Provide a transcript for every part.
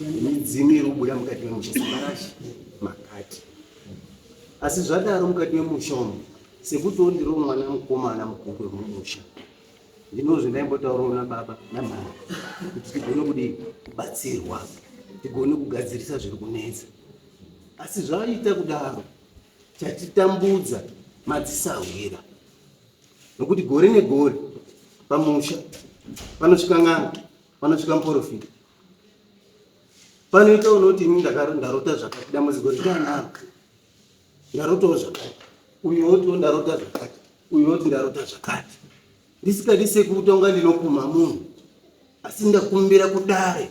midzimu iri kubuda mukati memusha semarashi makati asi zvadaro mukati memusha umu sekuti ondiro mwana mukomana mukuru wemumusha ndinozve ndaimbotaurawo nababa namhara kuti tigone kudi kubatsirwa tigone kugadzirisa zviri kunetsa asi zvaita kudaro chatitambudza madzisahwira nokuti gore negore pamusha panosvika n'anga panosvika muporofita panoita unoti ini ndarota zvakati dambudziko ritanaro ndarotawo zvakati uyu wotiwo ndarota zvakati uyu woti ndarota zvakati ndisikadi sekutonga ndinokuma munhu asi ndakumbira kudare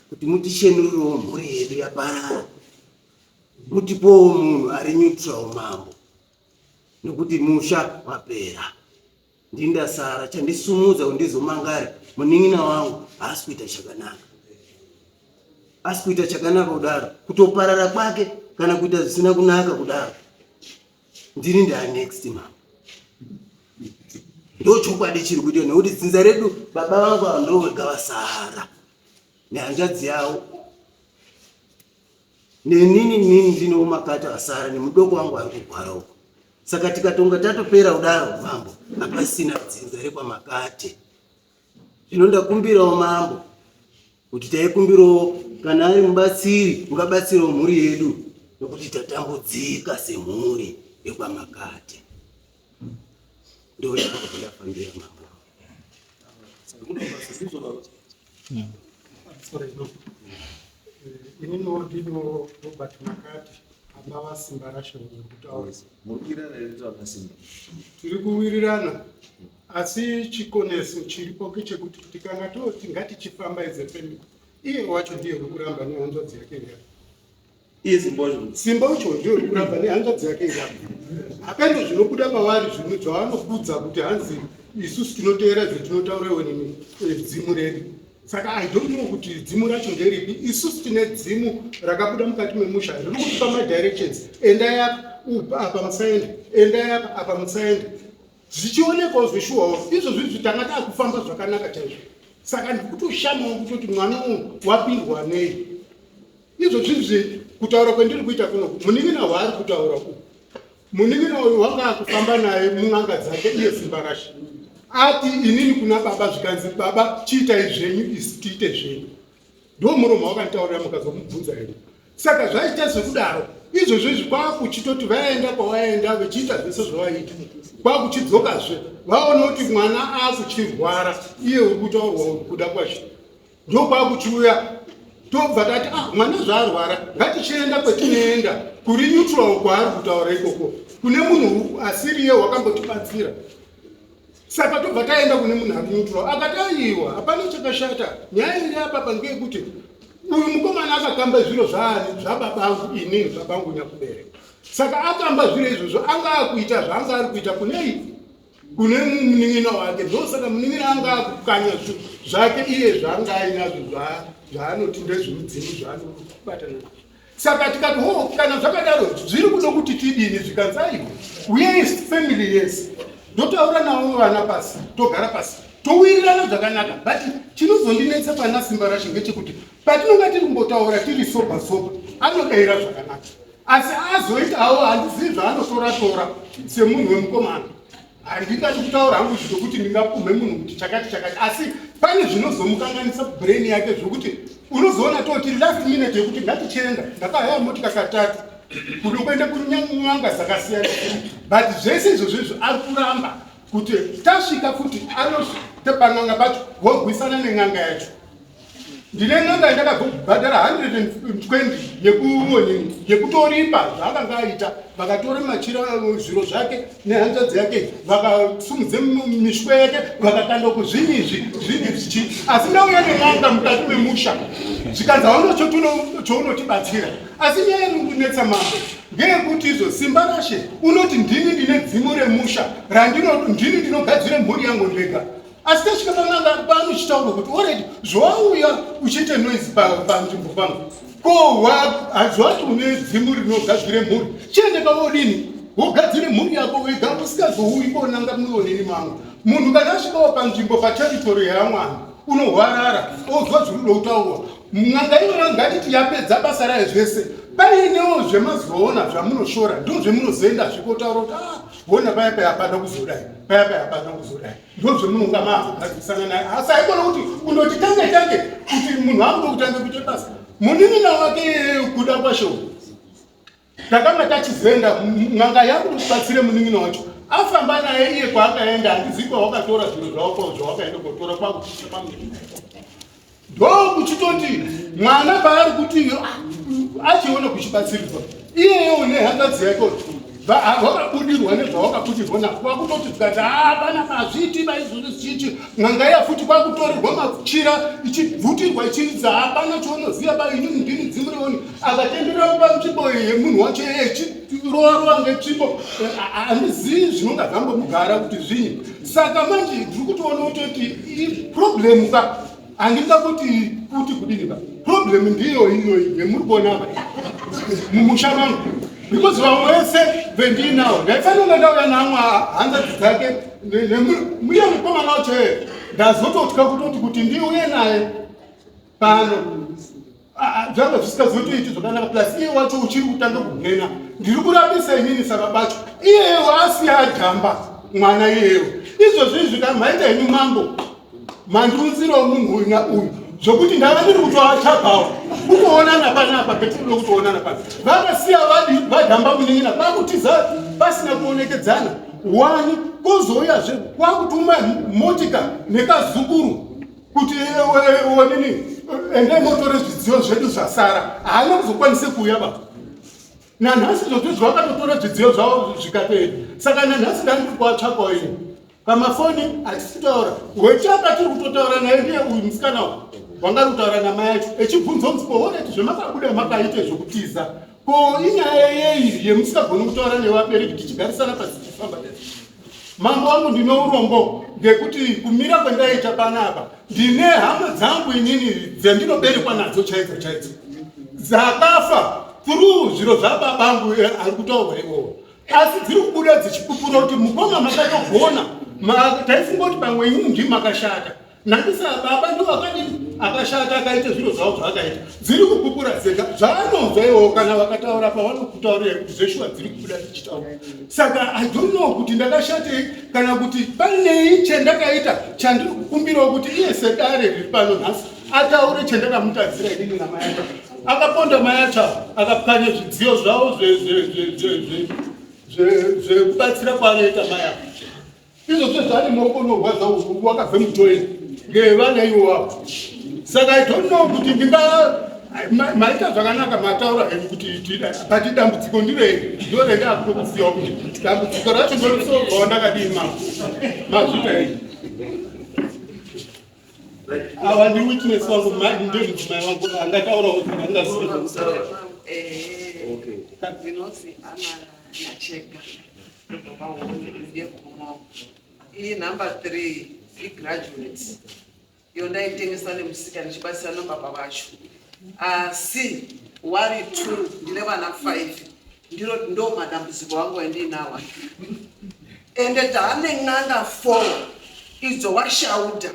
kuti mutishenurirewo mhuri yedu yaparara mutipowo munhu ari neutral mambo nokuti musha wapera Ndini ndasara, chandisumudza kuti ndizomangare munin'ina wangu haasi kuita chakanaka. Asi kuita chakanaka kudaro, kutoparara kwake kana kuita zvisina kunaka kudaro. Ndini ndaa next mama. Ndochokwadi chiri kuita nekuti dzinza redu baba vangu ava ndovega vasara nehanzvadzi yavo Neni nini ndinowo makato asara nemudoko wangu ari kugwara uko. Saka tikatonga tatopera kudaro mambo hapasina dzinza rekwamakate. Zvino ndakumbirawo mambo kuti taikumbirawo kana ari mubatsiri ungabatsirawo mhuri yedu nokuti tatambudzika semhuri yekwamakate. inini wodino robert makati abava simba rasho nekutaura tiri kuwirirana asi chikoneso chiripo kechekuti tikanga toti ngatichifamba ize pemiko iye wacho ndiye wekuramba nehanzvadzi yake ngati simba ucho ndiro rikuramba nehanzvadzi yake irapa hapendo zvinobuda pavari zvimwe zvavanokudza kuti hanzi isusu tinoteera zvetinotaura iwe nemi eh, dzimu redu saka i don't know kuti dzimu racho nderipi isusu tine dzimu rakabuda mukati memusha riri kutipa madirections endai apa apa musaenda endai apa apa musaenda zvichionekwawo zveshuwawo izvo zviri zvitanga taakufamba zvakanaka chaizvo saka ndikutoshamawo kutoti mwana uyu wapindwa nei Izvo zvizvi kutaura kwendiri kuita kuno munin'ina waari kutaura uku munin'ina uyu wanga akufamba naye mun'anga dzake iye simbarasha ati inini kuna baba zvikanzi baba chiitai zvenyu isi tiite zvenyu ndo muromo wakanditaurira mukazomubvunza here saka zvaita zvekudaro izvozvo izvi kwakuchitoti vaenda kwavaenda vechiita zvese zvavaita kwakuchidzokazve vaona kuti mwana akuchirwara iye uri kutaurwa uri kuda kwazvino ndokwakuchiuya tobva tati ah mwana zvaarwara ngatichienda kwetinoenda kuri neutral kwaari kutaura ikoko kune munhu asiriye wakambotibatsira saka tobva taenda kune munhu ari neutral akati aiwa hapana chakashata nyaya iri apapa ngeyekuti uyu mukomana akakamba zviro zvaani zvababangu inini zvabangu nyakubereka saka akamba zviro izvozvo anga akuita zvaanga ari kuita kunei kune munin'ina wake ndosaka munin'ina anga akukanya zvake iye zvaanga ainazvo zvaanoti ndezvemudzimu zvaanobatana nazvo saka tikati ho kana zvakadaro zviri kuda kuti tidini zvikanzaiwo uyei family yese ndotaura navo vana pasi togara pasi towirirana zvakanaka but chinozondinetsa pana simba rashe ngechekuti patinonga tiri kumbotaura tiri soba soba anodaira zvakanaka asi azoitawo handizivi zvaanotora tora semunhu wemukomana handingati kutaura hangu zvokuti ndingapumhe munhu kuti chakati chakati asi pane zvinozomukanganisa brain yake zvokuti unozoona toti last minute yekuti ngatichenda ndakahaya motika katatu kuno kuenda kunyanga dzakasiyana but zvese izvozvo izvo ari kuramba kuti tasvika kuti anotepan'anga pacho wogwisana nen'anga yacho ndine n'anga yandakazobhadhara 120 yekuonini yekutoripa zvaakanga aita vakatora machira zviro zvake nehanzvadzi yake vakasumudze mishwa yake vakakanda kuzvini izvi zvini zvichi asi ndauya nen'anga mukati memusha zvikanzi hauna chounotibatsira asi nyaya yekundinetsa mambo ngeyekuti izvo simba rashe unoti ndini ndine dzimu remusha randino ndini ndinogadzire mhuri yangu ndega asi tasvika pananga panochitaura kuti oredi zvawauya uchiite noise panzvimbo pangu ko hazvati une dzimu rinogadzire mhuri chiende pavodini wogadzire mhuri yako wega usikazouyi konanga muonini mangu munhu kana asvikawo panzvimbo pateritori yamwana unohwarara ozwa zviri kuda kutaurwa n'anga iyona ngatiti yapedza basa rayo zvese painewo zvemazoona zvamunoshora ndo zvemunozoenda zvikotaura kuti ah, hona paya paya hapana kuzodai paya paya hapana kuzodai ndozvemunonga maazosana naye asi haikona kuti undoti tange tange kuti munhu akuda kutanga kuita basa muninina wake kuda kwasho takanga tachizoenda n'anga yangu ndibatsire muninina wacho afamba naye iye kwaakaenda handizivi kwawakatora zvinhu zvawakao zvawakaenda kotora kwakuchiita pamwe ndokuchitoti mwana paari kuti achiona kuchibatsirirwa iyeyewo nehangadzi yake wakabudirwa nezvawakabudirwa na kwakutoti tikati hapana mazviti vaizvozvi zvichichi n'anga iya futi kwakutorerwa machira ichibvutirwa ichiridza hapana chaunoziva ba ini mundini dzimurioni akatenderera kuva nzvimbo yemunhu wacho yeye chirovarova ngetsvimbo handizivi zvinonga zvambomugara kuti zvinyi saka manje ndiri kutoona kutoti problem ka handida kuti kuti kudini ka problem ndiyo iyoyi yemuri kuona apa mumusha mangu because vamwe vese vendiinawo ndaifanira ndauya namwe hanzadzi dzake muye mukomana wacho ere ndazototya kutoti kuti ndiuye naye pano zvanga zvisikazotoiti zvakanaka plus iye wacho uchiri kutanga kumhena ndiri kurambisa inini saka bacho iyeyo asi ajamba mwana iyeyo izvozvo izvi ka maita henyu mambo mandiunzira munhu uyu nauyu zvokuti ndava ndiri kutoatsvagawo kutoonana panapa petinoda kutoonana pano vakasiya vadi vajamba munin'ina vakutiza pasina kuonekedzana wani kozouyazve kwakutuma motika nekazukuru kuti onini eh, eh, eh, endai motore zvidziyo zvedu zvasara haana kuzokwanise kuuya baba nanhasi zvotizvi vakatotora zvidziyo zvavo zvikaperi saka nanhasi ndani kuri kuvatsvakwa ini pamafoni hatisitaura wechaka tiri kutotaura naye ndiye uyu musikana u wangari kutaura namai acho echibvunza unzi kooneti zvemakabuda makaite zvokutiza ko inyaya yeiri yemusingagoni kutaura nevabereki tichigarisana pasi tichifamba Mambo wangu ndine urombo ngekuti kumira kwendaita panapa ndine hama dzangu inini dzendinoberekwa nadzo chaidzo chaidzo dzakafa through zviro zvababangu eh, ari kutaurwa iwowo asi dziri kubuda dzichipupura kuti mukoma makatogona taifunga kuti pamwe inini ndimakashata Nandisa baba ndo akadini akashata akaita zviro zvavo zvaakaita dziri kupupura dzega zvaanonzwa iwo kana vakataura pavanokutaurira kuti zveshuwa dziri kubuda tichitaura saka i don't know kuti ndakashatei kana kuti panei chendakaita chandiri kukumbirawo kuti iye sedare riri pano nhasi ataure chendakamutadzira inini namayata akaponda mayata akapwanya zvidziyo zvavo zvekubatsira kwaanoita mayata Izvo sezvani maoko unorwadza uku wakabve mutoyera ngevana ivo wavo. Saka I don't know kuti ndinga maita zvakanaka mataura henyu kuti pati dambudziko ndirei ndorenda akutokusiyawo kuti dambudziko racho ndorisovawo ndakadii ma mazvita henyu awa ndi witness wangu ndimai wangu angataurawo saka ndingaziva iyi number three igraduate iyo ndaitengesa nemusika ndichibatsira nobaba vacho asi wari two ndine vana five ndiro ndo madambudziko wangu andiinawa ende taane n'anga four idzo washauda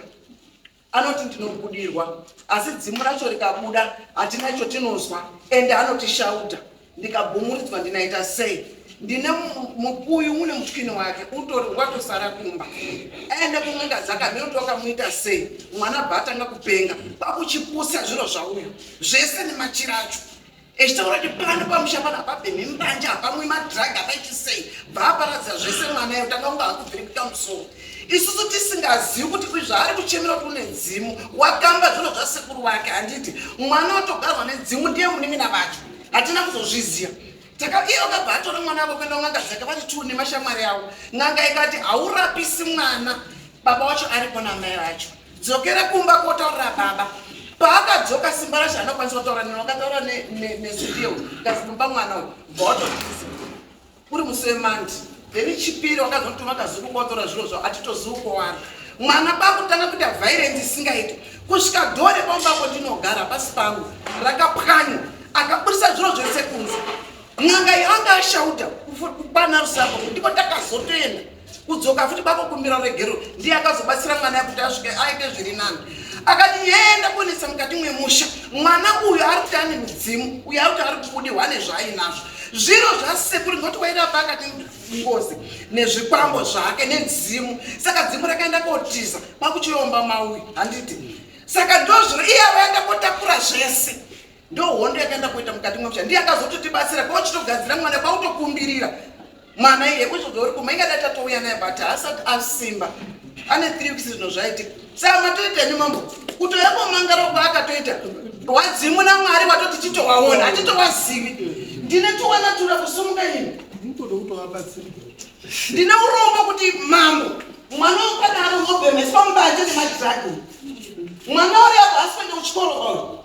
anoti ndinobudirwa asi dzimu racho rikabuda hatina icho tinonzwa ende anotishauta ndikabumuridzwa ndinaita sei ndine mukuyu une muchwini wake utori watosara kumba aende kun'anga dzaka mheuti wakamuita sei mwana bva atanga kupenga kwakuchipusa zviro zvauyo zvese nemachira acho echitaura kuti pano pamusha pano hapabhemi mbanje hapamwi madrug hapaiti sei bvaaparadza zvese mwana yo tanga kunge hakubviri kuita musoro isusu tisingazivi kuti zvaari kuchemera kuti une dzimu wakamba zvino zvasekuru vake handiti mwana watogarwa nedzimu ndiye munin'ina vacho hatina kuzozviziva takaiye vakabva atora mwana avo kuenda kun'anga dzake vati tuu nemashamwari avo n'anga ikati haurapisi mwana baba wacho aripo namai vacho Dzokera kumba kotaurira baba. Paakadzoka simba rashe anokwanisa kutaura neno akataura nesudio kazi kumba mwana uyu bhoto uri musi wemandi then chipiri wakazotuma kazuku kotora zviro zvavo atitozivi kuwana mwana pakutanga kuita vairenzi isingaiti kusvika dore pamubako ndinogara pasi pangu rakapwanywa akaburisa zviro zvese kunze n'anga yanga ashauta kukwana rusako ndipo takazotoenda kudzoka futi bako kumbira regero ndiye akazobatsira mwana yakuti asvike aite zviri nani akati yenda konetsa mukati mwemusha mwana uyu ari kuti ane mudzimu uyu ari kuti ari kubudirwa nezvaainazvo zviro zvasekuri ngoti waida pa akati ngozi nezvikwambo zvake nedzimu saka dzimu rakaenda kotiza kwakuchiomba mauyu handiti saka ndozviro iye avaenda kotakura zvese ndo hondo yakaenda kuita mukati mwemusha ndiye akazototibatsira kwauchitogadzira mwana kwautokumbirira mwana iye kuzodori kuma ingada tatouya naye but asati asimba ane three weeks zvinhu zvaitika saa matoita imi mambo kutoyambomangara uko akatoita wadzimu namwari watoti chitowaona hatitowazivi ndine tuwana tura kusumuka ini ndine urombo kuti mambo mwana wekwana ari ngobemeswa mubanje nemadragon mwana uri apo asipende kuchikoro oro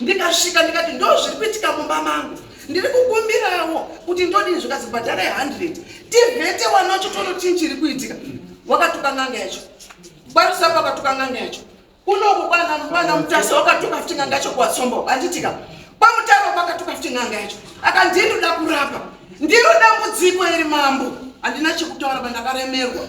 ndikasvika ndikati ndo zviri kuitika mumba mangu ndiri kukumbirawo kuti ndodini zvikazi bhadhara ye100 tivhete wanacho tono chii chiri kuitika wakatuka n'anga yacho kwarusapo akatuka n'anga yacho kunoko kwana mutasa wakatuka futi n'anga yacho kuwatsombo anditika kwamutaro kwakatuka futi n'anga yacho akandindoda kurapa ndiro dambudziko iri mambo handina chekutaura pandakaremerwa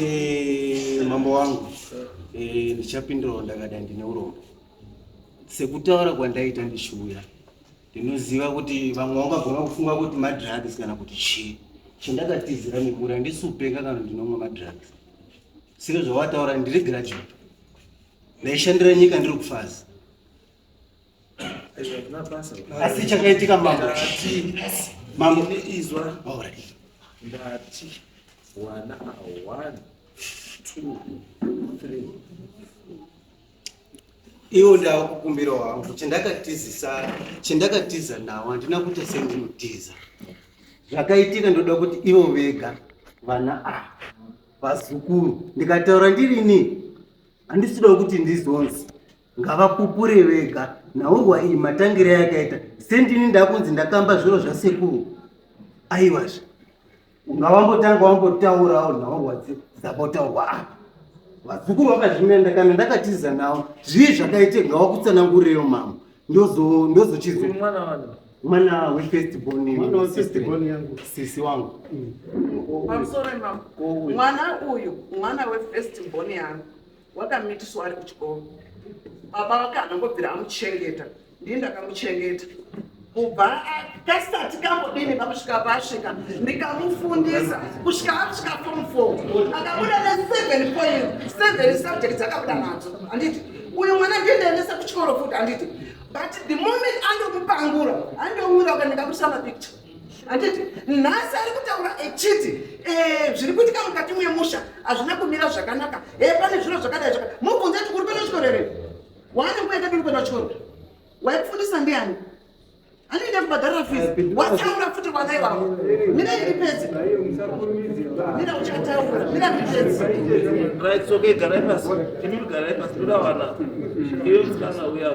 Eh, mambo wangu eh, ndichapindirawo ndakada ndine urombo sekutaura kwandaita ndishuya ndinoziva kuti vamwe vangagona kufunga kuti madrugs kana kuti chii chandakatizira mimura ndisupenga kana ndinomwa madrugs sire zvawataura ndiri graduate ndaishandira nyika ndiri kufazi asi chakaitika mambo mambo izwa ndati wana awana iwo ndava kukumbira wangu chandakatizisa chandakatiza nawo handina kuita sendinotiza zvakaitika ndoda kuti ivo vega vana a vazukuru ndikataura ndirini handisida kuti ndizonzi ngavapupure vega nhaurwa iyi matangire yakaita sendini ndakunzi ndakamba zviro zvasekuru aiwazve ungawambotanga wambotaurawo nhaurwa dzabotaurwa apa vazukuru vakazvinenda kana ndakatiza navo zvii zvakaite ngawakutsanangureyo mama ndozochizo mwana wefirstbonsisi wangu mwana uyu mwana wefirstbon yangu wakamitiswa ari kuchikoro baba vake anangobvira amuchengeta ndii ndakamuchengeta kubva kasati kambodini vakusvika vasvika ndikamufundisa kusvika asvika form four akabuda neseven point seven subjects akabuda nadzo handiti uyu mwana ndiendaendesa kuchikoro futi handiti but the moment andokupangura andouyira ukandikamurisa mapicture handiti nhasi ari kutaura echiti eh, zviri kuitika mukati memusha hazvina kumira zvakanaka e eh, pane zviro zvakadai zvaka mubvunze kuti uri kuenda chikoro here waane nguva yakadini kuenda chikoro waikufundisa ndiani anoenda kubhadharira fizi wataura futi vana ivavo mira iri pedzi mira uchataura mira iri pedzi right okay garai pasi imi garai pasi toda vana iwe musikana uya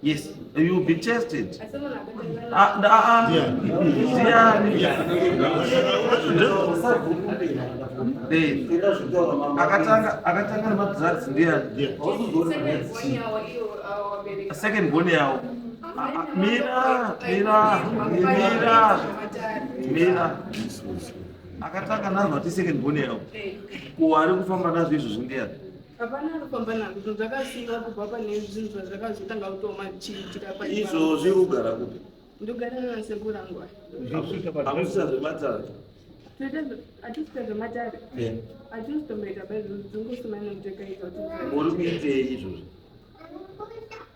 Yes, you will be tested. Ah, ah, ah. Eh, akatanga akatanga nemadrugs ndiyani second bone yawo mira mira mira mira akatanga nanhu ati second bone yawo kuwari kufamba nazvo izvozvo ndiyani hapana anofamba nazvo zvinhu zvakasimba kubva pane zvinhu zvazvakazotanga kutoma chiitira paizvo zviri kugara kupi ndogara nasekuru angu amusisa zvematare atiita zvematare atizitomboita baizvozvo dzongosumana mutekaita uri kuitei izvozvo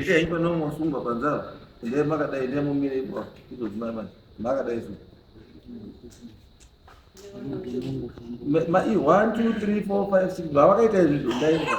Ishaimba nomo sumba panzara ndiye makadai ndiye mumire ipo izodzimai manje makadai su ma i one two three four five six vavakaita izvi zvindaiva